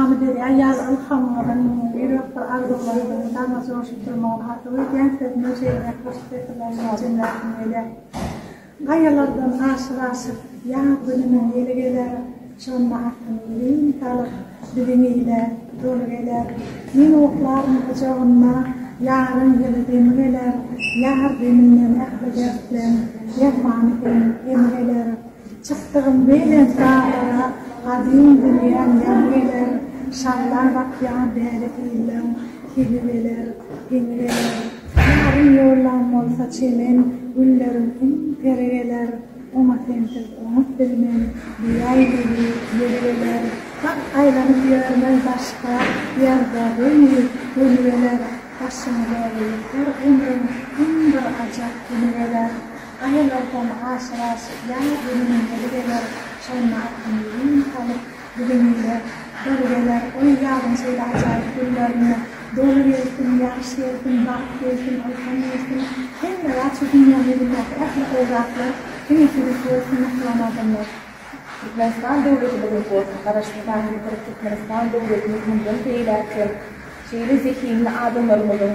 Amyderýa ýaly ylham bolan ýürek bir arzuwlaryňyzy dama joşdurmagyny arzuw edýän sözüme şeýle hoş setirleriniň jemläsim gelýär. Gaýalardan aşyp-aşyp ýaz gününiň ýeli geler, Şonda atyň birin salyp, biziň ile doly geler. Men oklaryn gujagynda, ýaryň ýyly demi geler, Ýar deminden ähli dertleň dermany hem, emi geler. Çykdygym belent daglara, Gadym dünýäm ýaňy geler, Şallap akýan däli sillem, Hili beler, geňi geler. Ýarym ýollam bolsa çemen, Gülleriň iň peri geler, Oňa sensiz oňup bilmen, Diýäý weli, ýeri geler. Bak, aýlanyp ýörmen daşda, Ýazda göni, göni geler, Başyňy dogrulyk her ömrüň, Iň bir ajap güni geler. Aýallar hem aşyk aşyk ýaly gürlemeleri geler, şonda awtomobil ýüz salyp, biziň öýe bir geler, Oý, ýazyň şeýle ajaýyp günlerine doly gelsin, ýagş gelsin, bagt gelsin, ylham gelsin, hemme zat şu dünýäň ýüzündäki ähli gowy zatlar diňe siziňki bolsun mähriban adamlar. Türkmenistan döwleti biziňki bolsun, Garaşsyzlary ýitirik Türkmenistan döwletimiz mundan beýläk hem şeýle zehinli adamlarymyzyň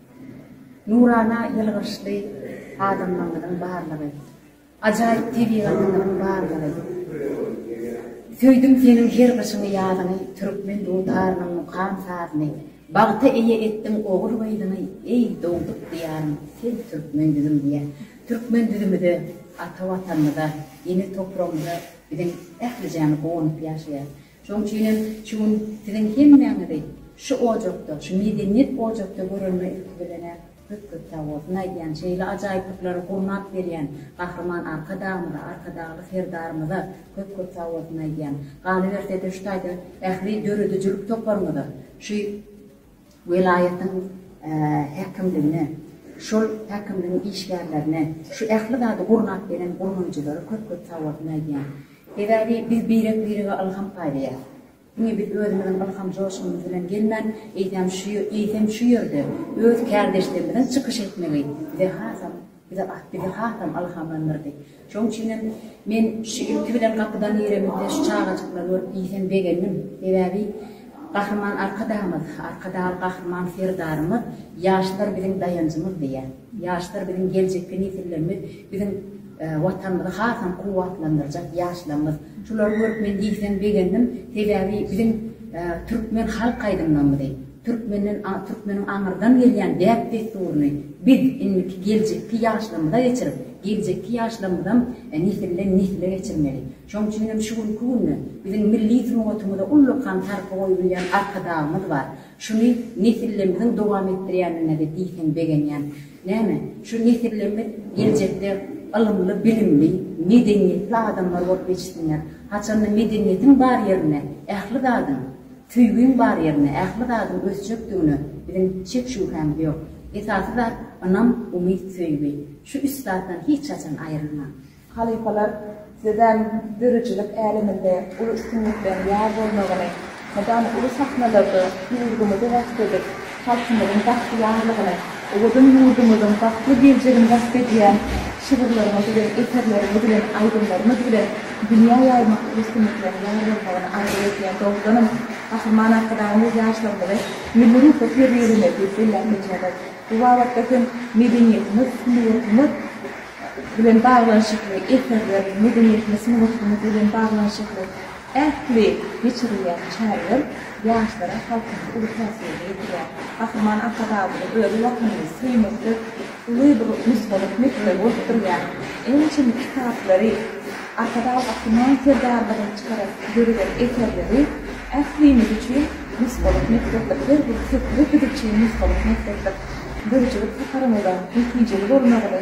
Nurana ýylgyryşly adamlaryňyzyň barlygy, ajaýyp tebigatyňyzyň barlygy, söýdüm seniň her gyşyňy ýazyňy Türkmen dutarnyň mukam sazyny Bagta eýe etdiň ogul gyzyňy Eý dogduk diýarym sen türkmen düzüm diýä türkmen düzümide ata watanymyza ene topragymyza biziň ählijämiz guwanyp ýaşaýas Şonuň üçinem şu gün siziň hemmäňizi şu ojakda, şu medeniýet ojakda görenime ilki bilen-ä köp-köp sag bolsun aýdýan. Şeýle ajaýyplyklary gurnap berýän Gahryman Arkadagymyza, Arkadagly Serdarymyza köp-köp sag bolsun aýdýan. Galyberse-de şu taýda ähli döredijilik toparyňyza, şu. welaýatyň häkimligine, şol häkimligiň işgärlerine, şu ähli zady gurnap gelen gurmaçylara köp-köp sagbolsun aýdýan. Sebäbi biz birek-birege ylham paýlaýas. Diňe biz özümiziň ylham joşgunymyz bilen gelmän, eýsem, eýsem şu ýerde öz kärdeşlerimiziň çykyş etmegi bize hasam Bu zat bizi hasam ylhamlandyrdy. Şonuň üçin hem men şu ilki bilen gapydan giremizde şu çagajyklary görüp iýsem begendim. Sebäbi Gahryman Arkadagymyz, Arkadagly Gahryman Serdarymyz Ýaşlar biziň daýanjymyz diýýär. Ýaşlar biziň geljekki nesillerimiz, biziň Watanymyzy hasam kuwwatlandyrjak ýaşlarymyz. Şulary görüp men iýsem begendim. Sebäbi biziň türkmen halk aýdymlarymyzy. Türkmenden, türkmeniň aňyrdan gelýän däp-dessuryny biz indiki geljekki ýaşlarymyza geçirip, geljekki ýaşlarymyzam nesilden nesle geçirmeli. Şoň üçin hem şu günki günde biziň milli sungatymyza ullakan sarpa goýup ýörýän Arkadagymyz bar. Şuny nesilleimiziň dowam etdirýändigine-de diýseň begenýän. Näme, şu nesilleimiz geljekde ylymly, bilimli, medeniýetli adamlar bolup ýetişsinler. Haçanda medeniýetiň bar ýerinde ähli zadyň Söýgiň bar ýerinde ähli zadyň ösjekdigine biziň şek-şübhämiz ýok. Esasy zat, ynam, umyt, söýgi. Şu üç zatdan hiç haçan aýrylmaň. Halypalar sizem döredijilik äleminde uly üstünlikleriň ýar bolmagyny, mydama uly sahnalarda ýurdumyzy wasp edip, Halkymyzyň bagtyýarlygyny, owadan ýurdumyzyň bagtly geljegini wasp edýän şygyrlaryňyz bilen, eserleriňiz bilen, aýdymlaryňyz bilen dünýä ýaýmak üstünlikleriň ýar bolmagyny arzuw edýän dogrudanam Gahryman Arkadagymyz ýaşlarymyzy milli ruhly terbiýelemeli diýip belläp geçýärler. Bu babatda hem medeniýetimiz, sungatymyz bilen baglanyşykly eserler, medeniýetimiz, sungatymyz bilen baglanyşykly. Ähli geçirilýän çäreler ýaşlara, halkymyza uly täsirini ýetirýär. Gahryman Arkadagymyzyň özi Watanyny söýmekde uly bir nusgalyk mekdebi bolup durýar. Ençeme kitaplary, Arkadag Gahryman Serdarymyzyň çykaran, döreden eserleri ählimiz üçin nusgalyk mekdepdir. Her bir setiri biz üçin nusgalyk mekdepdir. Döredijilik saparyňyzyň netijeli bolmagyny,